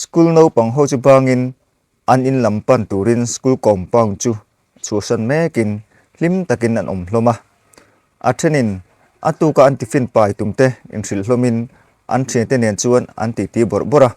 School naupang ho chu bangin an in lam pan turin school compound chu chhuahran mekin hlim takin an awm hlawm a. A thenin a tuka an tiffin pai tum te inhrilh hlawmin an thiante nen chuan an titi bawrh bawrh a.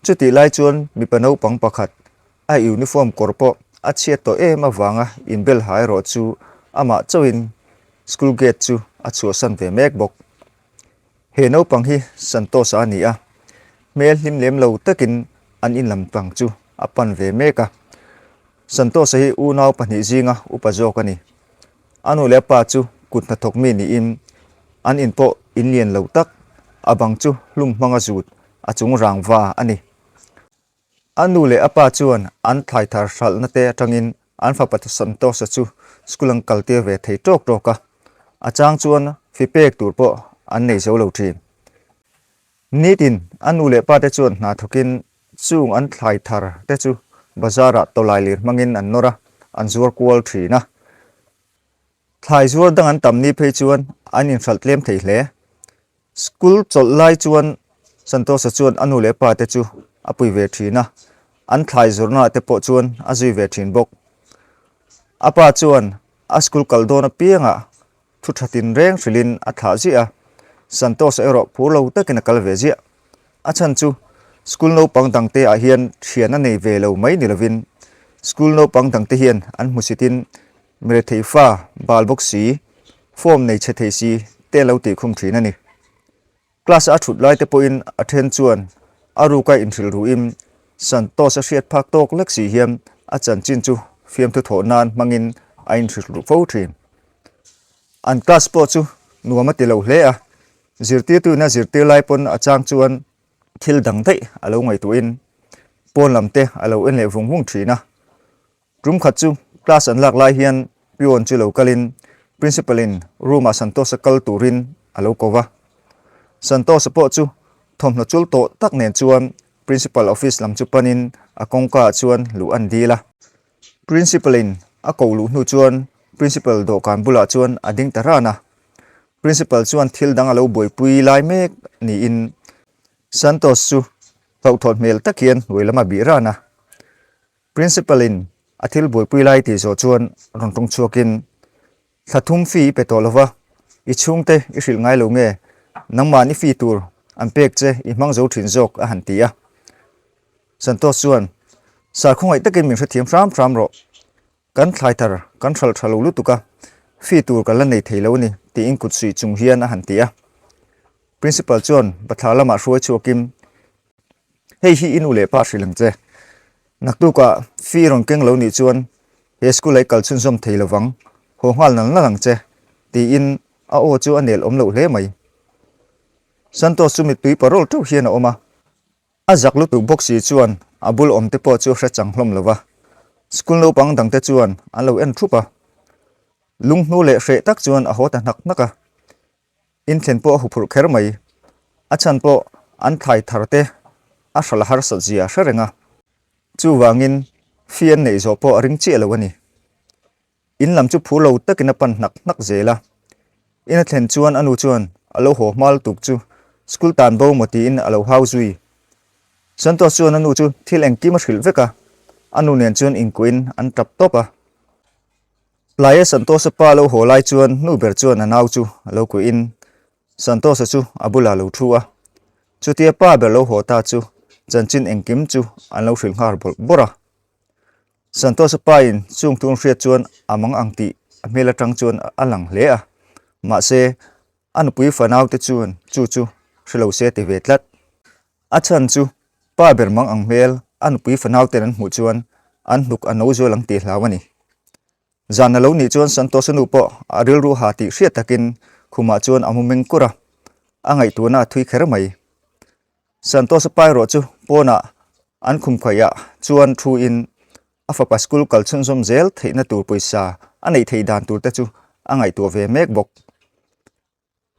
Chutih lai chuan mipa naupang pakhat A uniform kawr pawh a chhiat tawh em avanga inbel ha erawh chu amah chauhin school gate chu a chhuahsan ve mek bawk. He naupang hi Santosa a ni a, hmel hlim lem lo takin an inlam tlang chu a pan ve mek a. Santosa hi unau pahnih zinga upa zawk a ni. A nu leh a pa chu kut hna thawk mi niin an in pawh in lian lo tak, a bang chu hlum hmanga zut a chung rangva a ni. A nu leh a pa chuan an thlai thar hralhna te atangin an fapa ta Santosa chu school an kal tir ve thei tawk tawk a, a chang chuan fi pek tur pawh an nei zo lo thin. Nitin a nu leh pa te chuan hna thawkin chung an thlai thar te chu bazar ah tawlai lir hmangin an nawr a, an zuar kual thin a. Thlai zuar dang an tam ni phei chuan an inhralh tlem thei hle. School chawlh lai chuan Santosa chuan a nu leh pa te chu a pui ve thin a, an thlai zawrhna te pawh chuan a zui ve thin bawk. A pa chuan a school kal dawn apiangah thu tha tinreng hrilhin a thlah ziah a, Santosa erawh phur lo takin a kal ve ziah. A chhan chu school naupang dangte ah hian thian a nei ve lo mai ni lovin school naupang dangte hian an hmusitin, Ngre thei fa, bal bawk si, form nei chhe thei si te an lo tih khum thin a ni. Class-a a thut lai te pawhin a then chuan a ruka inhrilru in Santos a hriat phak tawk lek si hian a chanchin chu fiamthu thawh nan hmangin a inhrilru fo thin. An class pawh chu nuam a ti lo hle a, zirtirtuin a zirtir lai pawn a chang chuan thil dang daih a lo ngaihtuahin pawn lam te a lo en leh vung vung thin a. Tum khat chu class an lak lai hian peon chu lo kalin Principal-in room ah Santosa kal turin a lo ko va. Santosa pawh chu thawmhnaw chul tawh tak nen chuan Principal office lam chu panin a kawngka ah chuan luh a ni dil a. Principal-in a ko luh hnu chuan Principal dawhkan bulah chuan a ding ta ran a. Principal chuan thil dang a lo buaipui lai mek niin Santos chu hlauhthawt hmel tak hian ruai lam a bih ran a. Principal-in a thil buaipui lai tih zawh chuan rawn tawng chhuakin, Thla thum fee i pe tawh lova, i chhungte i hrilh ngai lo nge, nangmahn i fee tur an pek che i hmang zo thin zawk a han ti a. Santos chuan, Sir khawngaih takin min hrethiam hram hram rawh, kan thlai thar kan hralh tha lo lutuk a, fee tur kan la nei thei lo a ni, tiin kut suih chung hian a han ti a. Principal chuan bathlar lamah hruai chhuakin, Hei hi i nu leh pa hrilh ang che. Naktuka fee rawn keng lo nih chuan he school-a i kal chhunzawm thei lo vang, haw nghal nal nal ang che, tiin a aw chu a nel awm loh hle mai. Santos chu mittui parawl teuh hian a awm a, a zak lutuk bawk si chuan a bul awmte pawh chu a hre chang hlawm lo a, school naupang dangte chuan an lo en thup a, lunghnu leh hreh tak chuan a haw ta hnak hnak a, In thlen pawh a hu phurh kher mai. A chhan pawh an thlai thar te a hral harsat zia hre reng a. Chuvangin fee an neih zawh pawh a ring chiah lo a ni. In lam chu phu lo takin a pan hnak hnak zel a. In a thlen chuan a nu chuan a lo haw hmal tuk chu school tan bo maw tiin a lo hau zui. Santosh chuan a nu chu thil engkim a hrilh vek a, a nu nen chuan inkuahin an tap tawp a. Tlai e Santosa pa lo haw lai chuan nu ber chuan a nau chu a lo kuih in Santosa chu a bulah lo thu a. Chutia pa ber lo haw ta chu chanchin engkim chu an lo hrilh nghar bawrh bawrh a. Santosa pa in chungtu an hriat chuan a mang ang tih a hmel atang chuan a lang hle a. Mahse, a nupui fanaute chuan chu chu hre lo se ti ve tlat. A chhan chu, pa ber mang ang hmel a nupui fanauten an hmuh chuan an hnuk a no zual ang tih hlau a ni. Zan a lo nih chuan Santosa nu pawh a rilru ha tih hriat takin khumah chuan a mu meng kur a, a ngaihtuahna a thui kher mai. Santosa pa erawh chu pawnah an khumkhuaiah chuan thuin a fapa school kal chhunzawm zel theihna tur pawisa a neih thei dan tur te chu a ngaihtuah ve mek bawk.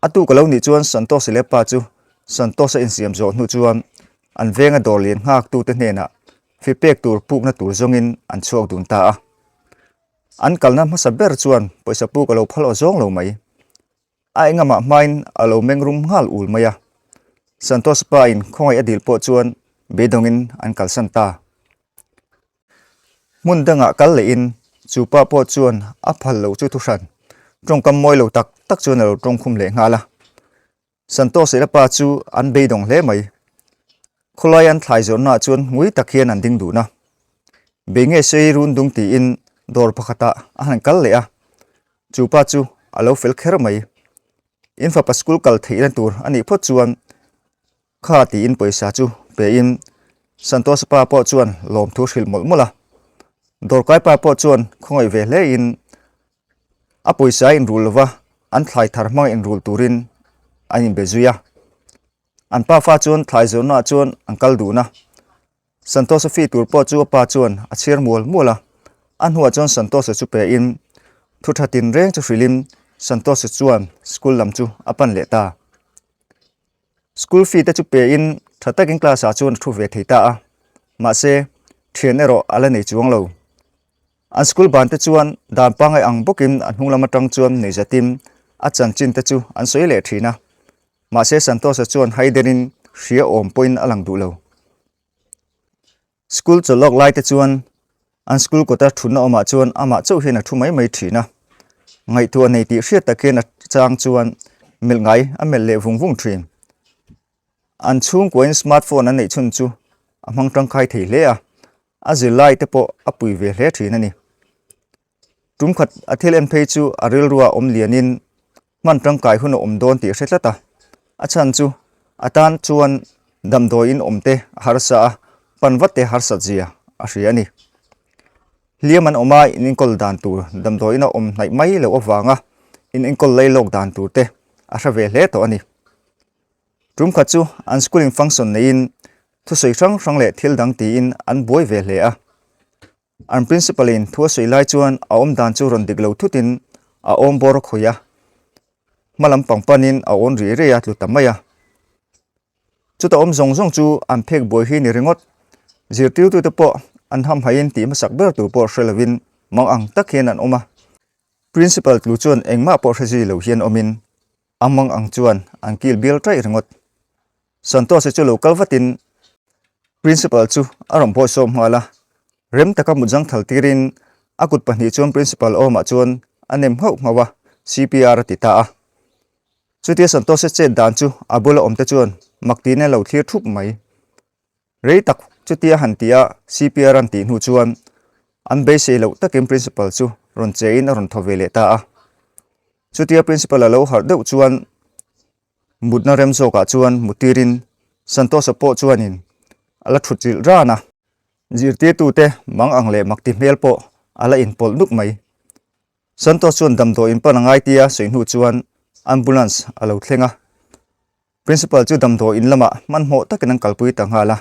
A tu ka lo nih chuan Santos-i leh pa chu Santos-a insiam zawh hnu chuan an venga dawr lian nghaktu te hnenah fi pek tur pukna tur zawngin an chhuak dun ta a. An kalna hmasa ber chuan pawisa puk a lo phal aw zawng lo mai. A engamah hmain a lo meng rum nghal ul mai a. Santos-a pa-in khawngaih a dil pawh chuan beidawngin an kalsan ta. Hmun dangah kal lehin chu pa pawh chuan a phal lo chu thu hran tawngkam mawi lo tak tak chuan a lo tawngkhum leh nghal a. Santos leh a pa chu an beidawng hle mai. Khawlai an thlai zawrhnaah chuan ngui tak hian an ding dun a. Bei nge sei run dung tiin dawr pakhatah a han kal leh a, chu pa chu a lo fel kher mai. In fapa school kal theihna tur a nih phawt chuan Kha tiin pawisa chu pein Santosa pa pawh chuan lawmthu hrilh mawlh mawlh a. Dawrkai pa pawh chuan khawngawih ve hlein a pawisa inrul lova an thlai thar hmanga inrul turin an inbe zui a. An pa fa chuan thlai zawrhnaah chuan an kal dun a. Santosa fi tur pawh chu a pa chuan a chhiar mual mual a. A hnuah chuan Santosa chu pein thu tha tinreng chu hrilhin Santosa chuan school lam chu a pan leh ta. School fee te chu pe in tha takin class ah chuan a thu ve thei ta a, mahse thian erawh a la nei chuang lo. An school ban te chuan dan pangai ang bawkin an hnunglam atang chuan neizatin a chanchin te chu an sawi leh thin a, mahse Santosa chuan haiderin hria awm pawhin a lang duh lo. School chawlh lawk laite chuan an school kawta thunna awmah chuan amah chauh hian a thu mai mai thin a. Ngaihtuah a nei tih hriat takin a chang chuan melh ngai a melh leh vung vung thin. An chhungkuain smart phone an neih chhun chu a hmang tangkai thei hle a, a zirlaite pawh a pui ve hle thin a ni. Tum khat a thil en phei chu a rilrua awm lianin hman tangkai hun a awm dawn tih a hre tlat a. A chhan chu a tan chuan damdawiin awmte a harsa a, pan vat te harsa zia a hria a ni. Hliam an awm a inenkawl dan tur damdawiin a awm hnaih mai loh avanga inenkawl lei lawk dan tur te a hre ve hle tawh a ni. Tum khat chu an school in function neiin thusawi hrang hrang leh thil dang tiin an buai ve hle a. An Principal in thu a sawi lai chuan a awm dan chu rawn dik lo thut in a awm bawr khawih a, hma lam pang pan in a awn rei rei a, tlu ta mai a. Chuta awm zawng zawng chu an phek buai hi a ni ringawt. Zirtirtu te pawh an ham hai in tih hmasak ber tur pawh hre lo in mang ang tak hian an awm a. Principal tlu chuan engmah pawh hre zui lo hian awm in A hmang ang chuan an kil bial taih ringawt. Santosh-i chu lo kal vatin Principal chu a rawn pawi sawm nghal a. Rem taka mut zangthal tirin a kut pahnih chuan Principal awmah chuan a nem nghauh nghauh a, CPR a ti ta a. Chutia Santosh-i chet dan chu a bula awmte chuan mak tiin a lo thlir thup mai. Rei tak chutia han ti a, CPR an tih hnu chuan an beisei loh takin Principal chu rawn che in a rawn thaw ve leh ta a. Chutia Principal a lo harh deuh chuan mutna rem zawkah chuan mutirin Santosa pawh chuanin a la thut rilh ran a. Zirtirtute mang ang leh mak ti hmel pawh a la inpawlh nuk mai. Santos chuan damdawiin pan a ngai tia sawi hnu chuan Ambulance a lo thleng a. Principal chu damdawi in lamah hmanhmawh takin an kalpui ta nghal a,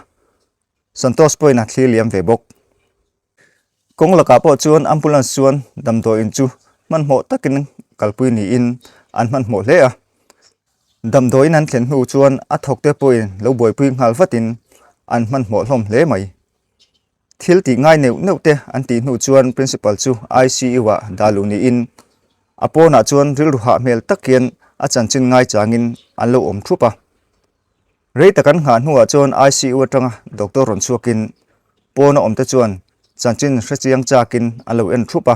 Santosh pawhin a thlir liam ve bawk. Kawng lakah pawh chuan ambulance chuan damdawi in chu hmanhmawh takin kalpui niin an hmanhmawh hle a, damdawi in an thlen hnu chuan a thawkte pawhin lo buaipui nghal vatin an hmanhmawh hlawm hle mai. Thil tih ngai neuh neuh te an tih hnu chuan Principal chu ICU-ah dah luh niin a pawnah chuan rilru hah hmel tak hian a chanchin ngai changin an lo awm thup a. Rei tak an nghah hnuah chuan ICU atanga doctor rawn chhuakin pawn a awmte chuan chanchin hre chiang chakin an lo en thup a.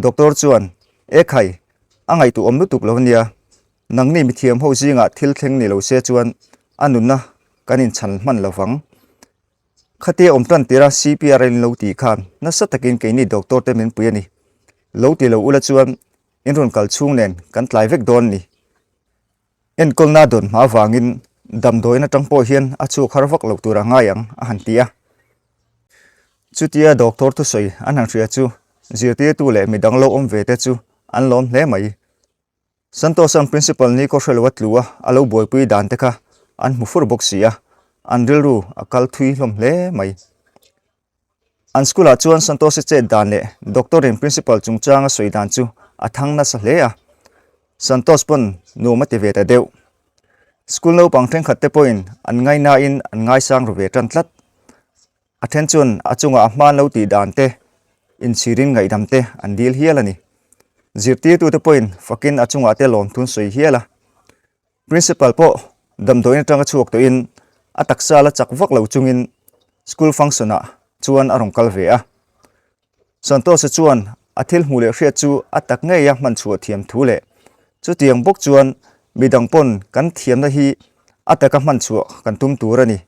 Doctor chuan, E khai, a ngaihtuh awm lutuk lo ania, nangni mithiam ho zingah thil thleng ni lo se chuan a nunna kan inchhan hman lovang. Khati a awm tan tir a, CPRL in lo tih khan nasa takin kei ni doctor te min pui a ni. Lo ti lo ula chuan in rawn kal chhung nen kan tlai vek dawn a ni. Enkawlna dawn hma avangin damdawiin atang pawh hian a chhuak har vak loh tur a ngai ang, a han ti a. Chutia doctor thusawi an han hria chu zirtirtu leh midang lo awm ve te chu an lawm hle mai. Santosa'n Principal Niko Hrelwa tlu a a lo buaipui dan te kha an hmu fur bawk si a, an rilru a kal thui hlawm hle mai. An school-ah chuan Santosa chet dan leh doctor-in Principal chungchanga sawi dan chu a thang nasa hle a, Santos pawn nuam a ti ve ta deuh. School naupang thenkhat te pawhin an ngainaiin an ngaisang ru ve tan tlat. A then chuan a chungah a hmaan lo tih dan te, inchhirin ngaihdam te an dil hial a ni. Zirtirtute pawhin fakin a chungah te lawmthun sawi hial a. Principal pawh damdawiin atanga chhuak tawhin a taksa la chak vak lo chungin school function-ah chuan a rawn kal ve a. Santosa chuan a thil hmuh leh hriat chu a tak ngei a hman chhuah thiam thu leh chutiang bawk chuan midang pawn kan thiamna hi a taka hman chhuah kan tum tur a ni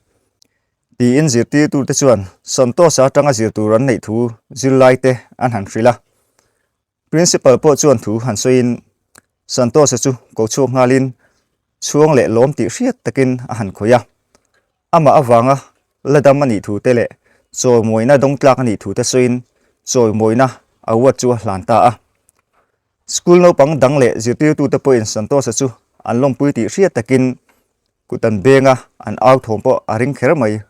Tiin zirtirtute chuan Santosa atanga zirtur an neih thu zirlaite an han hrilh a. Principal pawh chuan thu han sawiin Santosa chu ko chhuak nghalin chhuang leh lawm tih hriat takin a han khawih a. Amah avanga la dam a nih thute leh chawimuaina dawngtlak a nih thute sawiin chawimuaina award chu a hlan ta a. School naupang dang leh zirtirtute pawhin Santosa chu an lawmpui tih hriat takin Kut an beng a, an au thawm pawh a ring kher mai.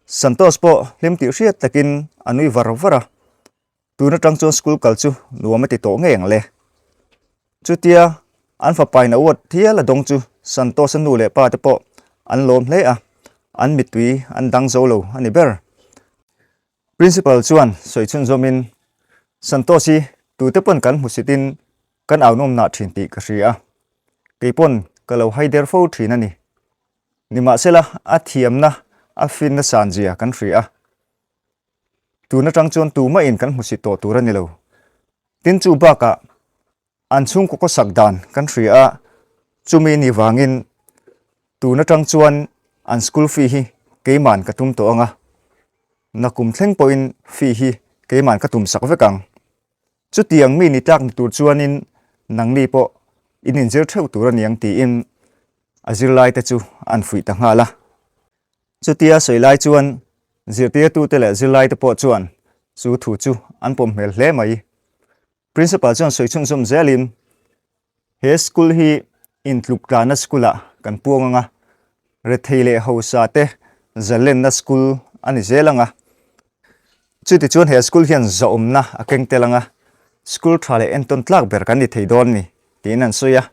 Santos pawh hlim tih hriat takin a nui var var a, tun atang chuan school kal chu nuam a ti tawh ngeng le. Chutia an fapain a uat hial a dawng chu Santos-a nu leh pa te pawh an lawm hle a, an mittui an dang zo lo a ni ber. Principal chuan sawi chhun zawmin, Santosh i, tute pawn kan hmu sitin kan aunawmnah thin tih ka hria. Kei pawn ka lo haider fo thin a ni. Nimahsela a thiamna, a finna san zia kan hria a. Tun atang chuan tumahin kan hmusi tawh tur a ni lo. Tin chu bakah An chhungkawka sak dan kan hria a, chumi ni vangin tun atang chuan an school fee hi keiman ka tum tawh ang a, na kum thleng pawhin fee hi keiman ka tum sak vek ang. Chutiang mi ni tlak ni tur chuanin nangni pawh in inzir theuh tur a ni ang tiin a zirlaite chu an fuih ta nghal a. Chutia sawi lai chuan zirtirtute leh zirlaite pawh chuan chu thu chu an pawm hmel hle mai. Principal chuan sawi chhun zawm zel in, He school hi intluk tlanna school ah kan puang ang a, rethei leh hausa te zallenna school a ni zel ang a. Chuti chuan he school hian zahawmna a keng tel ang a, school tha leh entawn tlak ber kan ni thei dawn ni tiin an sawi a.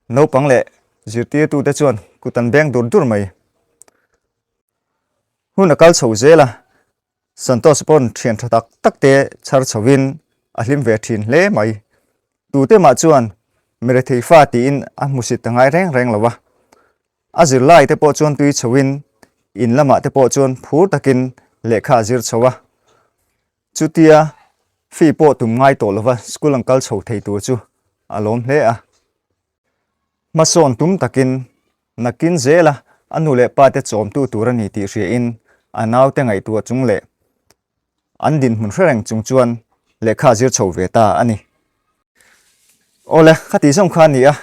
Naupang leh zirtirtu te chuan kut an beng dur dur mai. Hun a kal chho zel a, Santos pawn thian tha tak tak te chhar chho in a hlim ve thin hle mai. Tute mah chuan Merethei fa tiin a hmusit ta ngai reng reng lo a. A zirlai te pawh chuan tui chho in in lamah te pawh chuan phur tak in lehkha a zir chho a. Chutia fee pawh tum ngai tawh lova school an kal chho thei tur chu a lawm hle a. Hmasawn tum takin nakin zela a nu leh pa te chawmtu tur a ni tih hriain a naute ngaihtuah chung leh an dinhmun hre reng chung chuan lehkha a zir chho ve ta a ni. Awle, khati zawng kha a ni a,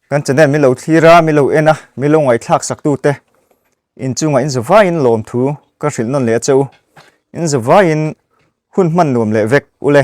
kan channel min lo thlir a, min lo en a, min lo ngaihthlak sak tu te inchungah inza vaiin lawm thu ka hrilh nawn leh a che u, inza vaiin hun hman nuam leh vek ule.